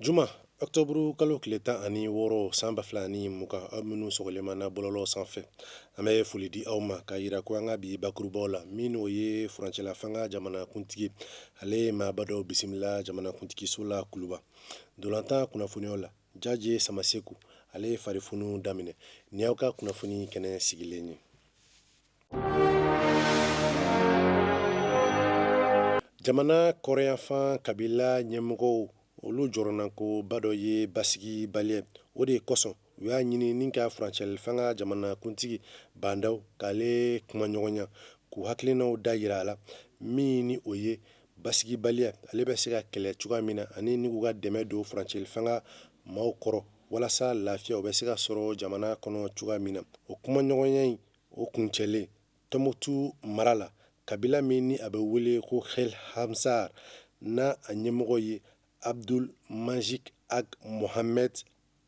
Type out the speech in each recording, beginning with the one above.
Juma ɔkutɔburu kalo tile tan ani wɔɔrɔ san ba fila ani mugan aw minnu sɔgɔlen b'an na bɔlɔlɔw sanfɛ an bɛ foli di aw ma k'a jira ko an ka bi bakurubaw la min o ye furancɛla fanga jamanakuntigi ale ye maaba dɔw bisimila jamanakuntigiso la kuluba ntolatan kunnafoniw la Jaje Samaseku ale ye farifoni daminɛ nin y'aw ka kunnafoni kɛnɛ sigilen ye Jamana kɔrɔnyanfan kabila ɲɛmɔgɔw olu jɔrɔnako ba dɔ ye basigibaliya ye o de kosɔn u y'a ɲini ni ka furancɛli fanga jamanakuntigi Ba Ndaw k'ale kumaɲɔgɔnya k'u hakilinaw dajira a la min ni o ye basigibaliya ye ale bɛ se ka kɛlɛ cogoya min na ani ni k'u ka dɛmɛ don furancɛli fanga maaw kɔrɔ walasa lafiya o bɛ se ka sɔrɔ jamana kɔnɔ cogoya min na o kumaɲɔgɔnya in o kuncɛlen Tɔnbukutu mara la, kabila min ni a bɛ wele ko Kel Ansar, n'a a ɲɛmɔgɔ ye Abdul Majid Ag Mohamed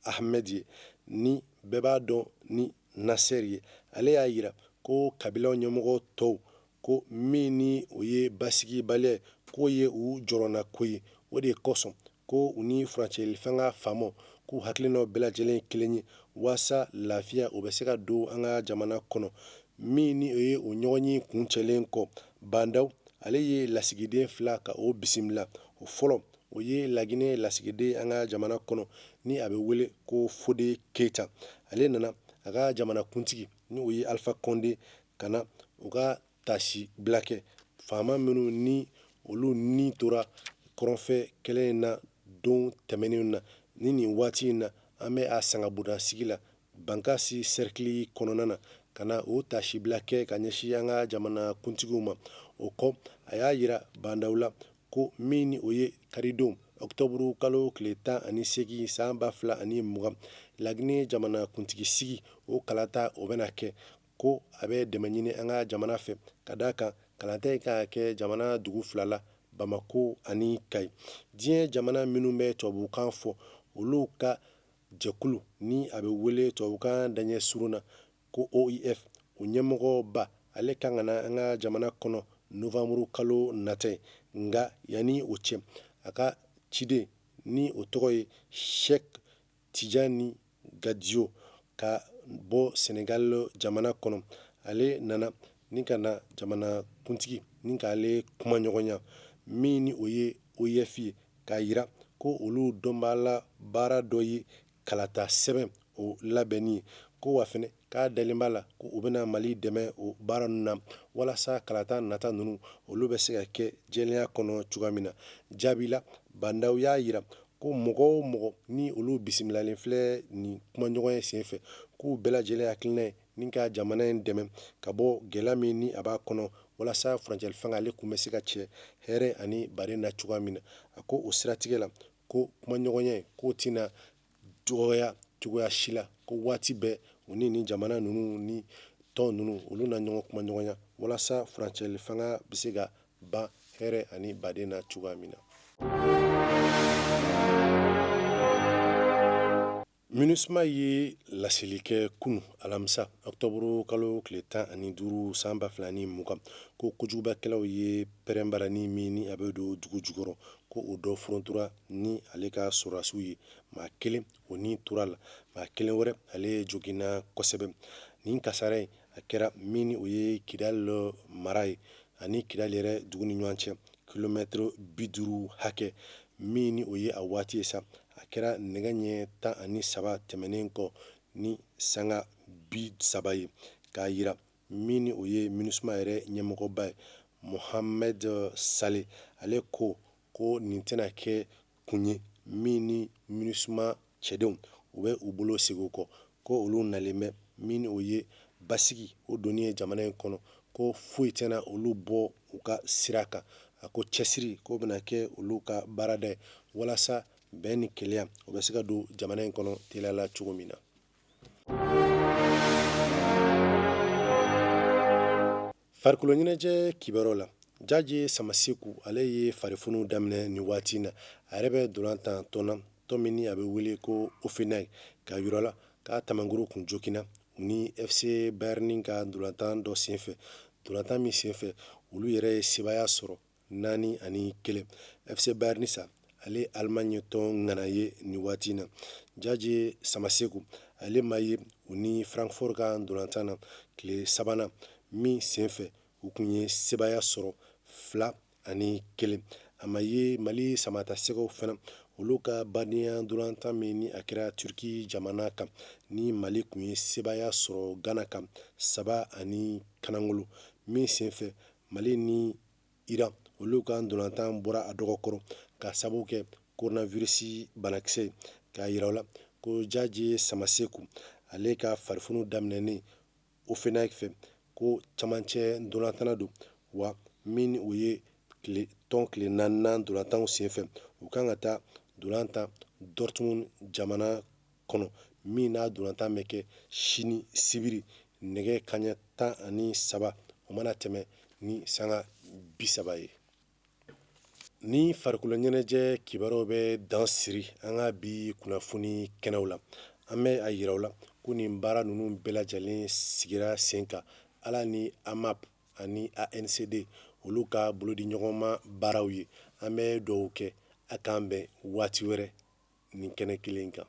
Ahmed ye, ni bɛɛ b'a dɔn ni Nasser ye, ale y'a jira ko kabila ɲɛmɔgɔ tɔw ko min ni o ye basigibaliya ye, k'o ye u jɔrɔnako ye. O de kosɔn, ko u ni furancɛli fanga faamaw k'u hakilinaw bɛɛ lajɛlen kelen ye walasa lafiya o bɛ se ka don an ka jamana kɔnɔ min ni o ye o ɲɔgɔnye kuncɛlen kɔ Ba Ndaw ale ye lasigiden fila ka o bisimila o fɔlɔ o ye laginɛ lasigiden an ka jamana kɔnɔ ni a bɛ wele ko Fode Keyita ale nana a ka jamanakuntigi ni o ye Alifa Kɔnde ka na u ka taasibila kɛ FAMa minnu ni olu ni tora kɔrɔnfɛ kɛlɛ in na don tɛmɛnenw na ni nin waati in na an bɛ a sangabonda sigi la bankasi sɛrikili kɔnɔna na ka na o taasibila kɛ ka ɲɛsin an ka jamana kuntigiw ma o kɔ a y'a jira Ba Ndaw la ko min ni o ye karidon ɔkutɔburu kalo tile tan ani segin san ba fila ani mugan laginɛ jamana kuntigi sigi o kalata o bɛna kɛ ko a bɛ dɛmɛ ɲini an ka jamana fɛ ka d'a kan kalata in kan ka kɛ jamana dugu fila la bamakɔ ani Kayi diɲɛ jamana minnu bɛ tubabukan fɔ olu ka jɛkulu ni a bɛ wele tubabukan daɲɛ surun na ko OIF o ɲɛmɔgɔba ale kan ka na an ka jamana kɔnɔ nowanburu kalo nata nka yanni o cɛ a ka ciden ni o tɔgɔ ye Cheikh Tijani Gadio ka bɔ Senegal jamana kɔnɔ, ale nana ni ka na jamanakuntigi ni ka ale kumaɲɔgɔnya, min ni o ye OIF ye, k'a jira ko olu dɔnbaala baara dɔ ye kalata sɛbɛn o labɛnni ye, ko wa fana k'a dalen b'a la ko u bɛna Mali dɛmɛ o baara ninnu na walasa kalata nata ninnu olu bɛ se ka kɛ jɛlenya kɔnɔ cogoya min na. Jaabi la, Ba Ndaw y'a yira ko mɔgɔ o mɔgɔ ni olu bisimilalen filɛ nin kumaɲɔgɔnya senfɛ, k'u bɛɛ lajɛlen hakilina ye ni ka jamana in dɛmɛ ka bɔ gɛlɛya min ni a b'a kɔnɔ walasa furancɛli fanga ale kun bɛ se ka cɛ hɛrɛ ani baden na cogoya min na. A ko o siratigɛ la ko kumaɲɔgɔnya in k'o tɛna dɔgɔya cogoya si la ko waati bɛɛ u ni ni jamana ninnu ni tɔn ninnu olu na ɲɔgɔn kumaɲɔgɔnya walasa furancɛli fanga bɛ se ka ban hɛrɛ ani baden na cogoya min na minusma ye laseli kɛ kunun alamisa ɔkutɔburu kalo tile tan ani duuru san ba fila ni mugan ko kojugubakɛlaw ye pɛrɛnbarani min ni a bɛ don dugu jukɔrɔ ko o dɔ ftura ni ale ka sɔrɔdasiw ye maa kelen o ni tora a la maa kelen wɛrɛ ale joginna kosɛbɛ nin kasara in a kɛra min ni o ye kidali mara ye ani kidali yɛrɛ dugu ni ɲɔgɔn cɛ kilomɛtɛrɛ bi duuru hakɛ min ni o ye a waati ye sa a kɛra nɛgɛ ɲɛ tan ani saba tɛmɛnen kɔ ni sanga bi saba ye k'a yira min ni o ye minusma yɛrɛ ɲɛmɔgɔba ye mohamɛd sale ale ko ko nin tɛna kɛ kun ye min ni minusma cɛdenw u bɛ u bolo segin kɔ ko olu nalen bɛ min ni o ye basigi o donni ye jamana in kɔnɔ ko foyi tɛna olu bɔ u ka sira kan a ko cɛsiri k'o bɛna kɛ olu ka baarada ye walasa bɛn ni kelenya o bɛ se ka don jamana in kɔnɔ teliya la cogo min na Farikolo ɲɛnajɛ kibaru la Jaje Samaseku ale ye farifoniw daminɛ nin waati in na. A yɛrɛ bɛ dolantan tɔn na, tɔn min ni a bɛ wele ko Hoffenheim, k'a yira u la k'a tamankuru kun joginna u ni FC Bayern ka dolantan dɔ senfɛ, dolantan min senfɛ olu yɛrɛ ye sebaaya sɔrɔ naani ani kelen fc bayern sa ale alimaɲi tɔn ŋana ye nin waati na jaje samaseku ale ma ye u ni frankfurt ka ndolantan na tile sabanan min senfɛ u tun ye sebaya sɔrɔ fila ani kelen a ma ye mali samatasɛgɛw fana olu ka badenya ndolantan min ni a kɛra turki jamana kan ni mali tun ye sebaya sɔrɔ gana kan saba ani kanangolo min senfɛ mali ni iran olu ka dolantan bɔra a dɔgɔ kɔrɔ k'a sabu kɛ koronavirisi banakisɛ ye k'a yira u la ko jaje samaseku ale ka farifoni daminɛnen hoffenheim fɛ ko camancɛ dolantanna don wa min ni o ye tɔn tile naaninan dolantanw senfɛ u kan ka taa dolan tan dortmund jamana kɔnɔ min n'a ntolatan bɛ kɛ sini sibiri nɛgɛ kanɲɛ tan ani saba o mana tɛmɛ ni sanga bi saba ye ni farikolo ɲɛnajɛ kibaruw bɛ dan siri an ka bi kunnafoni kɛnɛw la an bɛ a yira aw la ko nin baara ninnu bɛɛ lajɛlen sigira sen kan ala ni amap ani ancd olu ka bolodiɲɔgɔnma baaraw ye an bɛ dugawu kɛ a k'an bɛn waati wɛrɛ nin kɛnɛ kelen kan